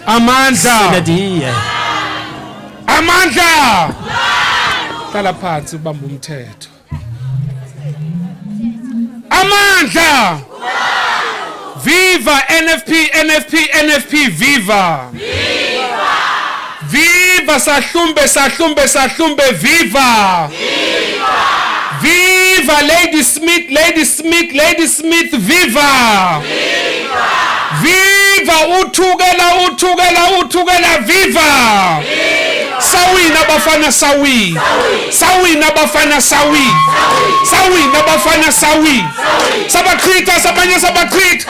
Amandla. Sinadiye. Amandla. Hlala phansi ubamba umthetho. Amandla. Viva NFP NFP NFP viva. Viva. Viva Sahlumbe Sahlumbe Sahlumbe viva! Viva! Viva Lady Smith Lady Smith Lady Smith viva! Viva! Viva uthukela uthukela uthukela viva! Viva! Sawina bafana sawi. Sawina bafana sawi. Sawina bafana sawi. Sabachitha sabanye sabachitha.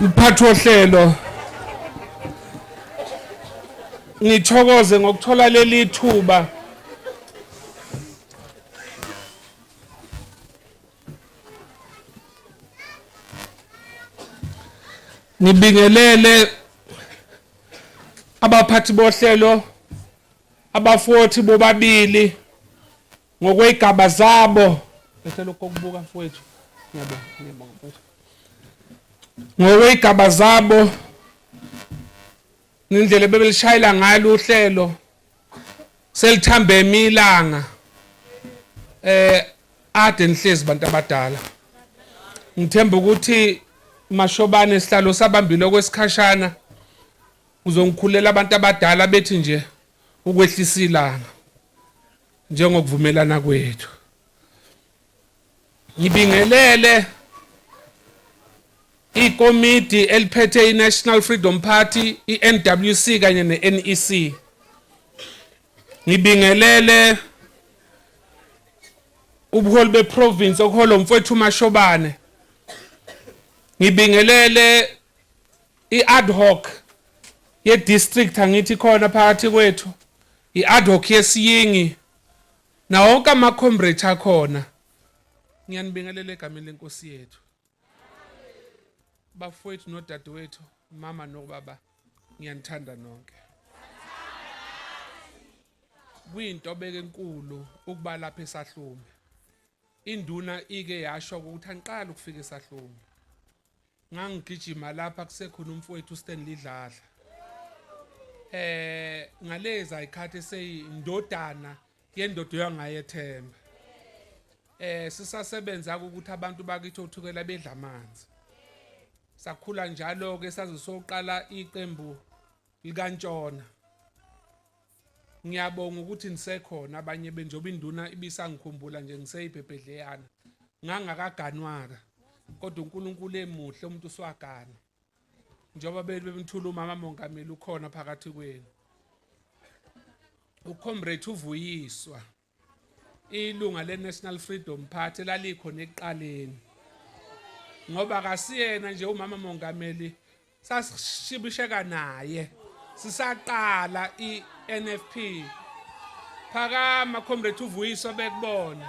Mphathi wohlelo ngithokoze ngokuthola leli thuba ngibingelele abaphathi bohlelo abafothi bobabili ngokwey'gaba zabo ehlela ukukubuka mfowethu ngiyabonga ngiyabonga mfowethu ngokwey'gaba zabo ngendlela ebebelishayela ngalo uhlelo selithambe imilanga eh ade nihlezi bantu abadala ngithemba ukuthi mashobane sihlalo sabambile okwesikhashana uzongikhulela abantu abadala bethi nje ukwehlisa ilanga njengokuvumelana kwethu ngibingelele ikomidi eliphethe iNational Freedom Party iNWC kanye neNEC ngibingelele ubuholi beprovince okuholo mfowethu Mashobane ngibingelele iad hoc yedistrict angithi khona phakathi kwethu I-adhoc yesiyingi nawo wonke amakhombrate akhona ngiyanibingelela egameni lenkosi yethu bafowethu nodadewethu mama nobaba ngiyanithanda nonke kuyintobeko enkulu ukuba lapha esahlumi induna ike yasho ukuthi angiqali ukufika esahlumi ngangigijima lapha kusekhona umfowethu uStanley Dladla eh ngalezi ayikhathi eseyindodana yendoda yangayethemba eh sisasebenza ukuthi abantu bakithi othukela bedla amanzi sakhula njalo ke saze soqala iqembu likantshona ngiyabonga ukuthi nisekhona abanye benjoba induna ibisangikhumbula nje ngiseyibhebhedleyana ngangakaganwaka kodwa uNkulunkulu emuhle umuntu uswagana njengoba bebemthula umama mongameli ukhona phakathi kwenu ucomrade uvuyiswa ilunga le-national freedom party lalikhona ekuqaleni ngoba kasiyena nje umama mongameli sasishibisheka naye sisaqala i-nfp phakama comrade uvuyiso bekubona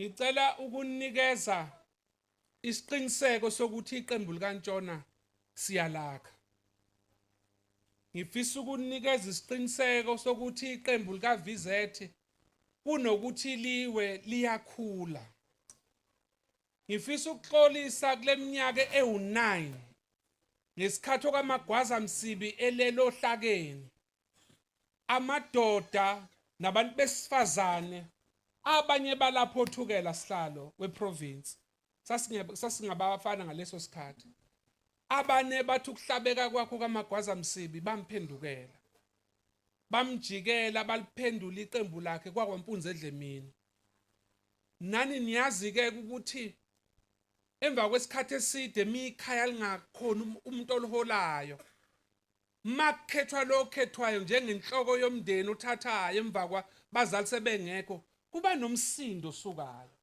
Ngicela ukunikeza isiqiniseko sokuthi iqembu likaNtshona siyalakha. Ngifisa ukunikeza isiqiniseko sokuthi iqembu likaVZ kunokuthi liwe liyakhula. Ngifisa ukuxolisa kule minyaka ewu-9 ngesikhathi okaMagwaza Msibi elele ohlakeni amadoda nabantu besifazane abanye balapho othukela sihlalo weprovince sasingabafana ngaleso sikhathi abane bathi ukuhlabeka kwakho kamagwaza msibi bamphendukela bamjikela baliphendula iqembu lakhe kwakwampunzi edlemini nani niyazi-ke ukuthi emva kwesikhathi eside mikhaya lingakhona um-, umuntu oliholayo makukhethwa lo okhethwayo njengenhloko yomndeni uthathayo emva kwa bazali sebengekho kuba nomsindo osukayo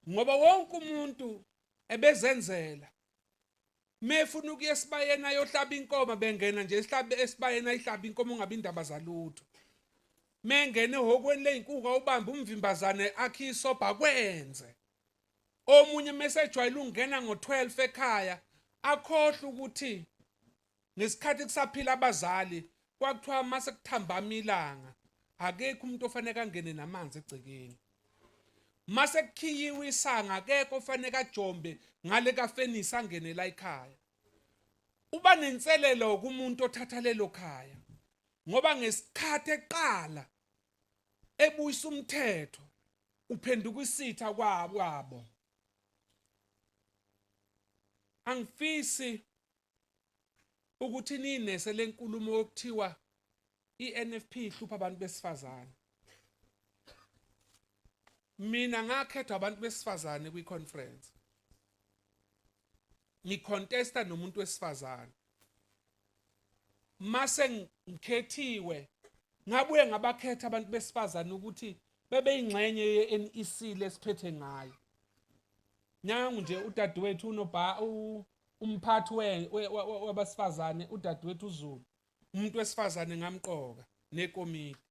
ngoba wonke umuntu ebezenzela mefuna ukuya esibayeni ayohlaba inkomo bengena nje esihlabe esibayeni ayihlaba inkomo ungabe indaba zalutho mengene ehokweni ley'nkuku awubambe umvimbazane akhe isobha kwenze omunye mesejwayele ungena ngo12 ekhaya akhohle ukuthi ngesikhathi kusaphila abazali kwakuthiwa mase kuthambama ilanga akekho umuntu ofanele angene namanzi egcekeni mase kukhiyiwe isanga akekho ofanele ajombe ngale kafenisi angene la ekhaya uba nenselelo kumuntu othatha lelo khaya ngoba ngesikhathi eqala ebuyisa umthetho uphenduka isitha kwabo angifisi ukuthi ninese lenkulumo yokuthiwa iNFP ihlupha abantu besifazane mina ngakhethwa abantu besifazane kwi-conference ngicontesta nomuntu wesifazane mase ngikhethiwe ngabuye ngabakhetha abantu besifazane ukuthi bebe ingxenye yeNEC lesiphethe ngayo nyangu nje udadewethu unobha umphathi wabasifazane udadewethu uZulu umuntu wesifazane ngamqoka nekomiti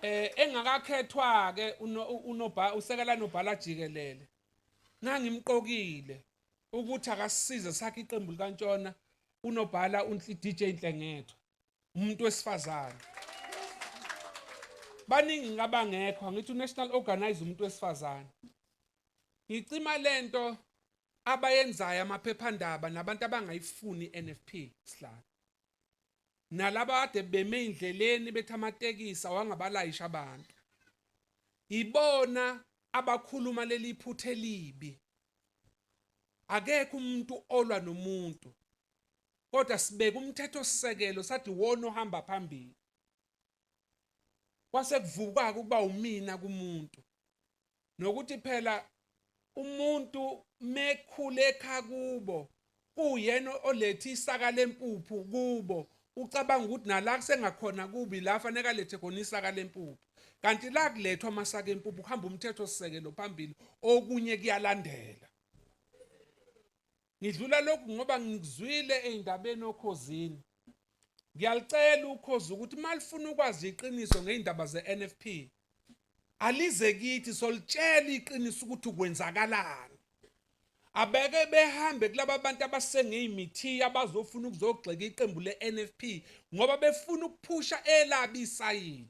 eh engakakhethwa ke unobha usekela nobhala jikelele ngangimqokile ukuthi akasize sakhe iqembu likantshona unobhala uDJ Nhlengetho umuntu wesifazane baningi ngabangekho ngithi unational organize umuntu wesifazane ngicima lento abayenzayo amaphephandaba nabantu abangayifuni iNFP sihlalo nalaba kade beme indleleni bethi amatekisi awangabalayisha abantu ibona abakhuluma leli phuthe libi akekho umuntu olwa nomuntu kodwa sibeka umthetho sisekelo sathi wona ohamba phambili kwase kuvukaka ukuba umina kumuntu nokuthi phela umuntu mekhule ekhaya kubo kuyena olethe isaka lempuphu kubo ucabanga ukuthi nala kusengakhona kubi la fanele alethe khona isaka lempuphu kanti la kulethwa amasaka empuphu kuhamba umthetho sisekelo phambili okunye kuyalandela ngidlula lokhu ngoba ngikuzwile ey'ndabeni okhozini ngiyalicela ukhozi ukuthi uma lifuna ukwazi iqiniso ngey'ndaba ze-nfp alize kithi solitshela iqiniso ukuthi kwenzakalani abeke behambe kulaba bantu abasengey'mithiya abazofuna ukuzogxeka iqembu le-nfp ngoba befuna ukuphusha elabi isayidi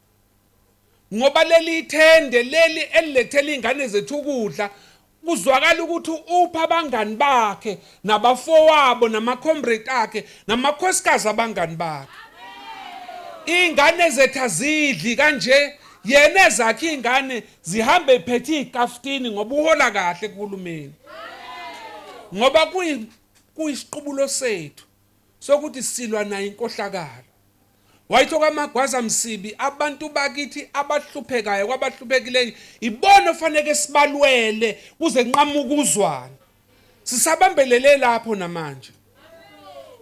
ngoba leli ithende leli elilethela iy'ngane zethu ukudla kuzwakala ukuthi upha abangani bakhe nabafowabo namakhombrate akhe namakhosikazi abangani bakhe iy'ngane zethu azidli kanje yena ezakhe iy'ngane zihambe iphethe iy'kafutini ngoba uhola kahle kuhulumeni ngoba kuyisiqubulo sethu sokuthi silwa nayo inkohlakalo Wayitho kamagwaza msibi abantu bakithi abahluphekayo kwabahluphekileyo ibona ofaneke sibalwele kuze nqamuka uzwana sisabambelele lapho namanje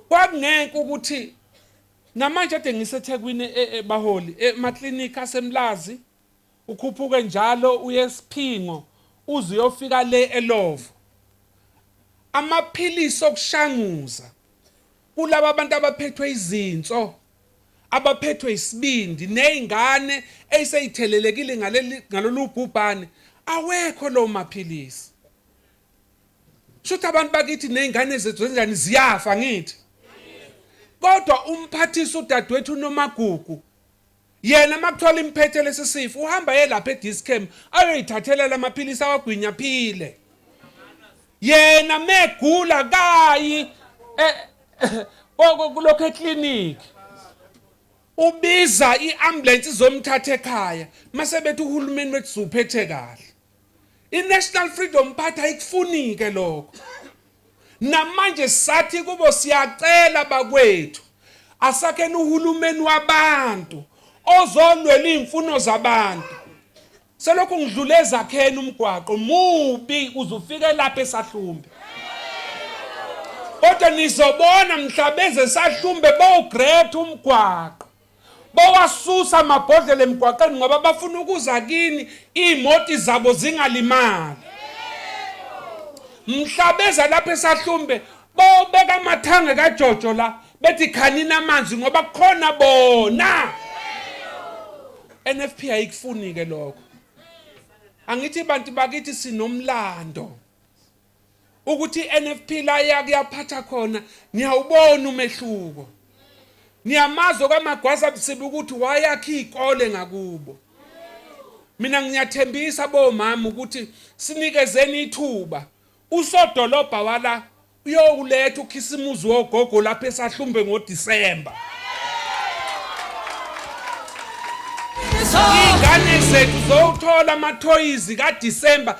kwakungenke ukuthi namanje ade ngisethekwini e, e, baholi emaklinikhi asemlazi ukhuphuke njalo uye esiphingo uze uyofika le elovo amaphilisi okushanguza Kulaba bantu abaphethwe izinso, abaphethwe isibindi nezingane eseyithelelekile ngalolu bhubhane awekho lowo maphilisi. Shuthi abantu bakithi nezingane zethu zenjani ziyafa ngithi. Kodwa umphathisa udadewethu uNomagugu Yena makuthiwa limphethe lesi sifo uhamba ye lapha eDischem ayoyithathela lamaphilisi awagwinya aphile. Yena megula kayi eh, kulokho eclinic ubiza iambulance izomthatha ekhaya mase bethi uhulumeni wethu uphethe kahle I-National Freedom Party ayikufunike lokho. Namanje sathi kubo siyacela bakwethu asakheni uhulumeni wabantu ozolwela izimfuno zabantu. Selokhu ngidlule ezakheni umgwaqo mubi uzufike lapha esahlumbe. Kodwa nizobona mhla beze sahlumbe bowugreat umgwaqo. bawasusa amabhodlela emgwaqeni ngoba bafuna ukuza kini iy'moti zabo zingalimali mhla beza lapha esahlumbe bobeka amathange kajojo la bethi khanini amanzi ngoba kukhona bona NFP ayikufuni-ke lokho angithi bantu bakithi sinomlando ukuthi iNFP la yake yaphatha khona niyawubona umehluko niyamazo kamagwaza busibi ukuthi wayakha izikole ngakubo mina ngiyathembisa bomama ukuthi sinikezeni ithuba usodolobha wala uyokuletha ukhisimuzi wogogo lapha esahlumbe ngoDisemba ingane zethu zowuthola amathoyizi kaDisemba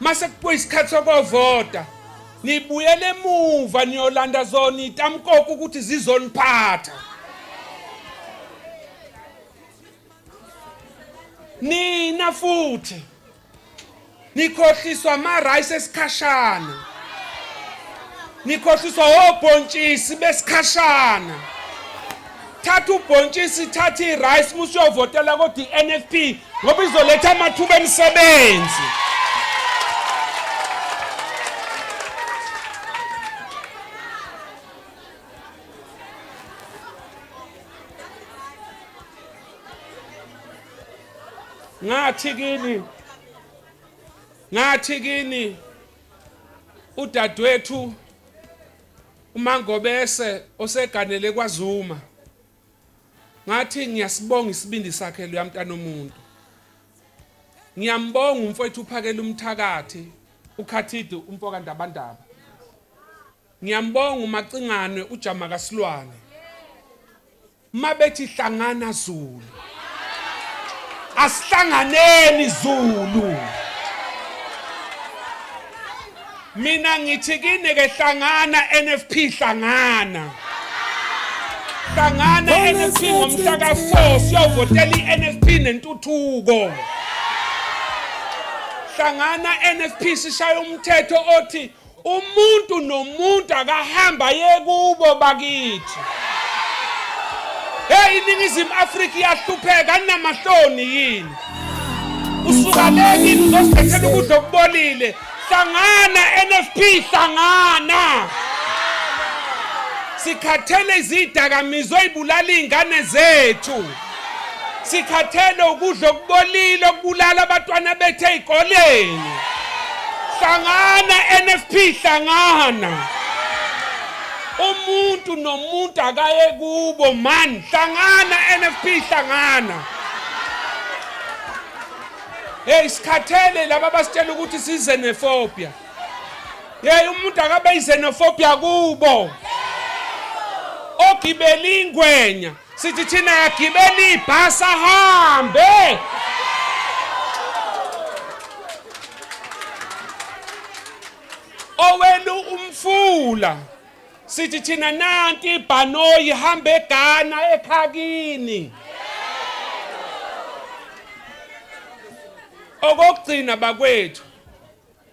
mase kubuya isikhathi sokovota nibuyele emuva niyolanda zona itamkoko ukuthi zizoniphatha nina futhi nikhohliswa ama-rice esikhashana nikhohliswa obhontshisi besikhashana thatha ubhontshisi thatha i-rice musuyovotela kodwa i-nfp ngoba izoletha amathuba emisebenzi ngathi kini ngathi kini udadewethu UMangobese oseganele kwaZuma ngathi ngiyasibonga isibindi sakhe loya mntana omuntu ngiyambonga umfowethu uphakela umthakathi ukhathide umfoka ndabandaba ngiyambonga umacingane ujama kasilwane mabethi hlangana Zulu asihlanganeni Zulu mina ngithi kini ke hlangana NFP hlangana hlangana NFP ngomhla ka4 siyovotela iNFP nentuthuko hlangana NFP sishaya umthetho othi umuntu nomuntu akahamba aye kubo bakithi hey iningizimu afrika iyahlupheka anamahloni yini usuka le kini uzosithethela ukudla okubolile hlangana nfp hlangana sikhathele izidakamizwa ey'bulala iy'ngane zethu sikhathele ukudla okubolile okubulala abantwana bethu ey'koleni hlangana NFP hlangana umuntu nomuntu akaye kubo man hlangana NFP hlangana hey sikhathele laba basitshela ukuthi size nefobia hey umuntu akabe izenofobia kubo ogibela ingwenya Sithi thina yagibela ibhasi ahambe. Owenu umfula. Sithi thina nanti ibhanoyi hamba eGhana ekhakini. Okokugcina bakwethu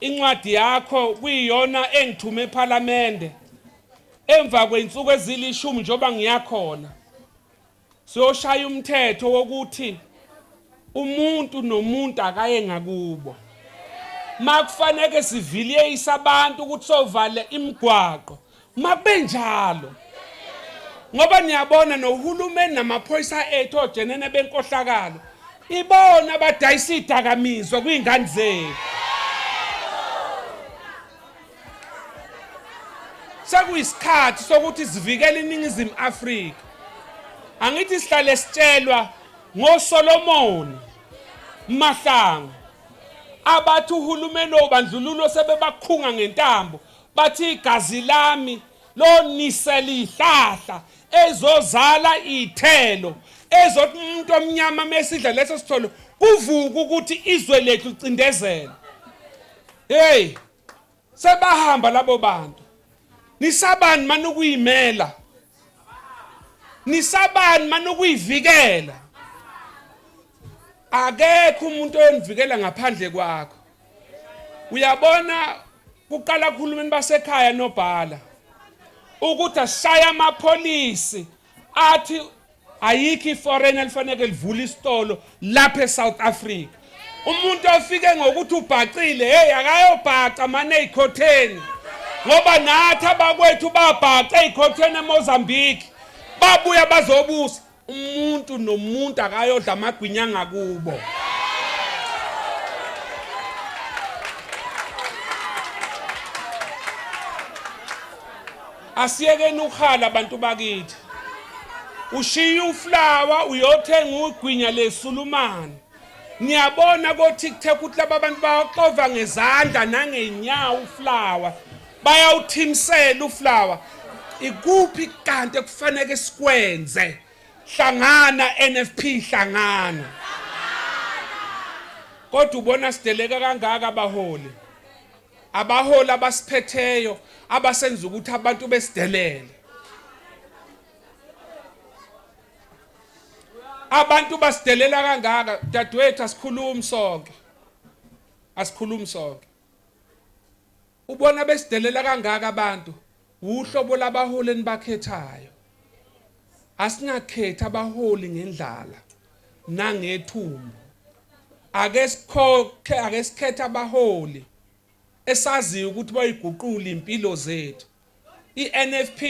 Incwadi yakho kuyiyona engithume ephalamende emva kwey'nsuku ezilishumi njengoba ngiyakhona siyoshaya umthetho wokuthi umuntu nomuntu akaye ngakubo makufaneke siviliyeyise abantu ukuthi sovale imigwaqo makubenjalo ngoba niyabona nohulumeni namaphoyisa ethu ojenene benkohlakalo ibona abadayisa idakamizwa kwiingane zethu sekuyisikhathi sokuthi sivikele iningizimu afrika angithi sihlale sitshelwa ngosolomoni mahlangu abathi uhulumeni obandlululo sebebakhunga ngentambo Bathi igazi lami lonisela ihlahla ezozala ithelo ezothi umuntu omnyama mesidla leso sitholo kuvuka ukuthi izwe lethu licindezela hey sebahamba labo bantu nisabani manukuyimela nisabani manukuyivikela akekho umuntu oyonivikela ngaphandle kwakho uyabona kuqala kuhulumeni basekhaya nobhala ukuthi asishaya amapholisi athi ayikho iforeign elifaneke livule isitolo lapha eSouth Africa umuntu ofike ngokuthi ubhacile hey akayobhaca mane ezikhotheni ngoba nathi abakwethu babhaca ezikhotheni eMozambique babuya bazobusa umuntu nomuntu akayodla amagwinya ngakubo asiyekeni ukhala abantu bakithi ushiye uflawa uyothenga ugwinya lesulumane Ngiyabona ko TikTok ukuthi laba bantu bawaxova ngezandla nangenyawo uflower. Bayawuthimsela uflower. Ikuphi kanti ekufanele sikwenze? Hlangana NFP hlangana. Kodwa ubona sideleka kangaka abaholi. Abaholi abasiphetheyo abasenza ukuthi abantu besidelele. abantu basidelela kangaka dadewethu asikhulumi sonke asikhulumi sonke ubona besidelela kangaka abantu uhlobo labaholi enibakhethayo asingakhethi abaholi ngendlala nangethumbu ake sikhokhe ake sikhethe abaholi esaziyo ukuthi bayiguqula impilo zethu INFP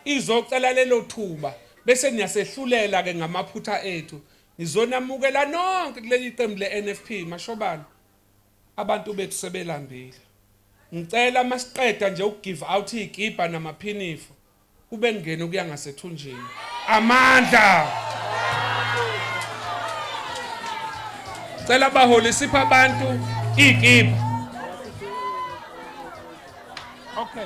izocela lelo thuba bese niyasehlulela ke ngamaphutha ethu. Ngizonamukela nonke kuleli qembu leNFP Mashobane. Abantu bethu sebelambile. Ngicela masiqeda nje uku give out izikibha namaphinifu kube kungena okuya ngasethunjini. Amandla! Cela baholi sipha abantu iyikipa. Okay.